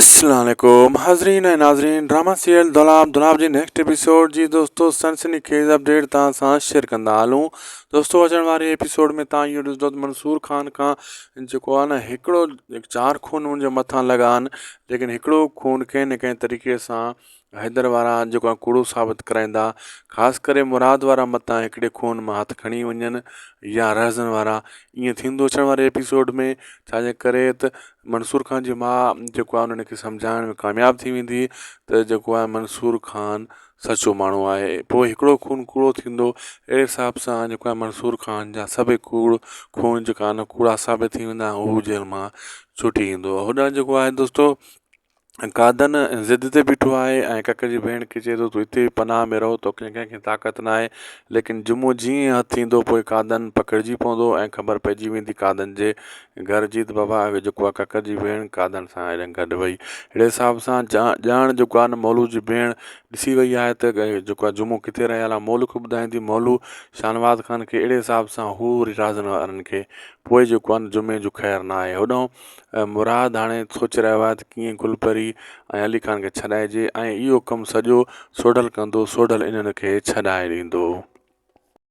السلام عليڪم حاضرين ۽ ناظرين ڊراما سيريل دولاب دولاب جي نيڪسٽ ايپيسوڊ جي دوستو سنسني خيز اپڊيٽ توهان سان شيئر ڪندا هلون دوستو اچڻ واري ايپيسوڊ ۾ توهان اهو ڏسندو ته منصور خان کان جيڪو آهي نه هڪڙو چار خون هن جي مٿان لڳا آهن ليڪن هڪڙو خون ڪنهن نه ڪنهن طريقي سان حيدر وارا جيڪو آهن ڪوڙو ثابت ڪرائيندا خاص ڪري مراد وارا متان هڪڙي خون مان هٿ کڻي وڃن يا رهزن وارا ائين ٿيندو اچڻ واري ايپيسوڊ ۾ ڇاجي ڪري ته منصور خان جي ماء جيڪو آهي انهن کي سمجهائڻ ۾ ڪامياب ٿي ويندي ته جيڪو آهي منصور خان سچو ماڻهو آهي پوء هڪڙو خون ڪوڙو ٿيندو اهڙي حساب سان جيڪو آهي منصور خان جا سڀ ڪوڙ خون جيڪا آهن ڪوڙا ثابت ٿي ويندا هو جيل مان ڇٽي ايندو هوڏانهن جيڪو آهي دوستو گادن ضد تي بيٺو آهي ۽ ڪڪ جي ڀيڻ کي چئي ٿو تون هتي ئي پناهه ۾ رهو توکي ڪنهنکي طاقت ناهي ليڪن جمعو جيئن ئي هٿ ايندو پوء گادن پڪڙجي پوندو ۽ خبر پئجي ويندي گادن جي گهر جي ته بابا اهو جيڪو آهي ڪڪ جي ڀيڻ گادن سان هيڏانهن گڏ وئي اهڙي حساب سان جا ڄاڻ جيڪو آهي نه مولوء جي ڀيڻ ڏسي وئي آهي ته جيڪو آهي جمعو ڪٿي رهيل آهي مولوء کي ٻڌائيندي مولوء شاهنواز خان کي اهڙي حساب سان هو وري رازن وارن کي پوء جيڪو آهي نه جمعي جو خير ناهي هوڏانهن ۽ مراد هاڻي سوچي رهيو آهي ته ڪيئن گل پري ۽ علي خان کي ڇڏائجي ۽ اهو ڪم سڄو سوڍل ڪندو سوڍل انهن کي ڇڏائي ڏيندو.